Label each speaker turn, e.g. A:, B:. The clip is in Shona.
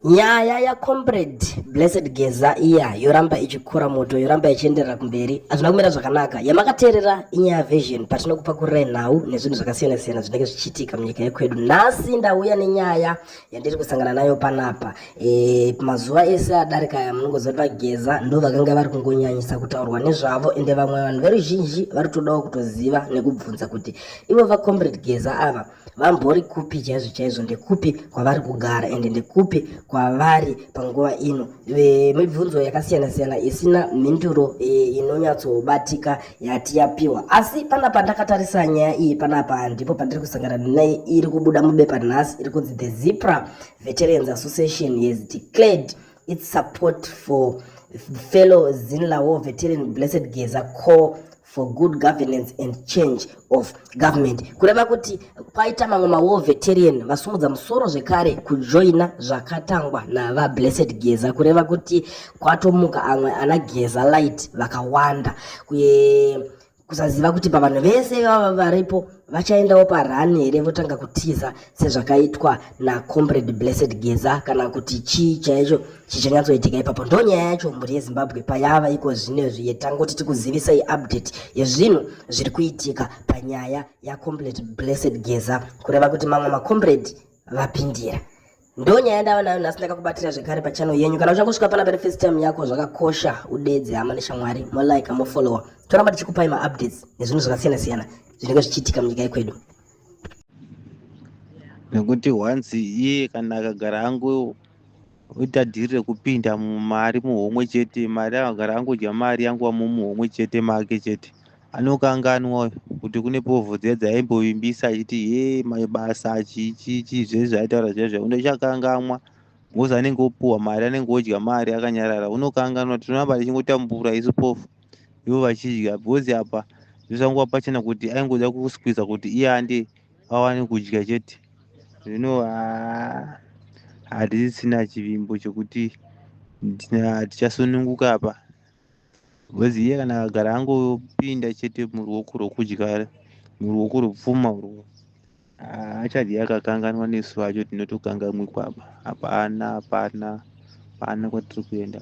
A: Nyaya ya comrade Blessed Geza iya yoramba ichikura moto yoramba ichienderera kumberi hazvina kumira zvakanaka. Yamakateerera inyaya version patinokupakurirei nhau nezvinhu zvakasiyana siyana zvinenge zvichiitika munyika yekwedu. Nhasi ndauya nenyaya yandiri kusangana nayo panapa. E, mazuva ese adarika aya munongoziva kuti VaGeza ndo vakanga vari kungonyanyisa kutaurwa nezvavo ende vamwe vanhu veruzhinji vari kutodawo kutoziva nekubvunza kuti ivo va comrade Geza ava vambori kupi chaizvo chaizvo ndekupi kwavari kugara ende ndekupi kwavari panguva ino mibvunzo yakasiyana siyana isina mhinduro inonyatsobatika yati yapiwa asi panapa ndakatarisa nyaya iyi panapa ndipo pandiri kusangana naye iri kubuda mubepa nhasi iri kunzi the zipra veterans association has declared It's support for fellow Zinlawo veteran Blessed Geza call for good governance and change of government kureva kuti kwaita mamwe mawar veteran vasumudza musoro zvekare kujoina zvakatangwa nava blessed geza kureva kuti kwatomuka amwe ana geza light vakawanda kuye kusaziva kuti pavanhu vese vava varipo vachaendawo parani here votanga kutiza sezvakaitwa nacomrade blessed geza kana kuti chii chaicho chichanyatsoitika ipapo ndo nyaya yacho mhuri yezimbabwe payava iko zvine zviye tangoti tikuzivisai update yezvinhu zviri kuitika panyaya yacomrade blessed geza kureva kuti mamwe macomrade vapindira ndonyaya ndava nayo nhasi ndakakubatira zvekare pachano yenyu kana uchangosvika pana pari first time yako zvakakosha udedze hama neshamwari molike mofollowa toramba tichikupai maupdates nezvinhu zvakasiyana siyana zvinenge zvichiitika munyika yekwedu
B: nekuti once iye kana akagara angu oita dhiri rekupinda mumari muhomwe chete mari akagara angodya mari yangu amuhomwe chete make chete anokanganwa kuti kune povho dziya dzaimbovimbisa achiti ye mabasa chichichi zvese zvaitaura zviya zviya undochakangamwa ngozi anenge opuhwa mari anenge odya mari akanyarara unokanganwa tinoramba tichingotambura isu pofu ivo vachidya because apa zvisangova pachena kuti aingoda kuskwiza kuti iye ande awane kudya chete zvino hatisisina chivimbo chekuti tichasununguka apa Because iye kana akagara angopinda chete muruoko rwokudya muruoko rwepfuma urwo achadhi akakanganwa nesu vacho tinotokangamwe kwaba hapana hapana hapana kwatiri kuenda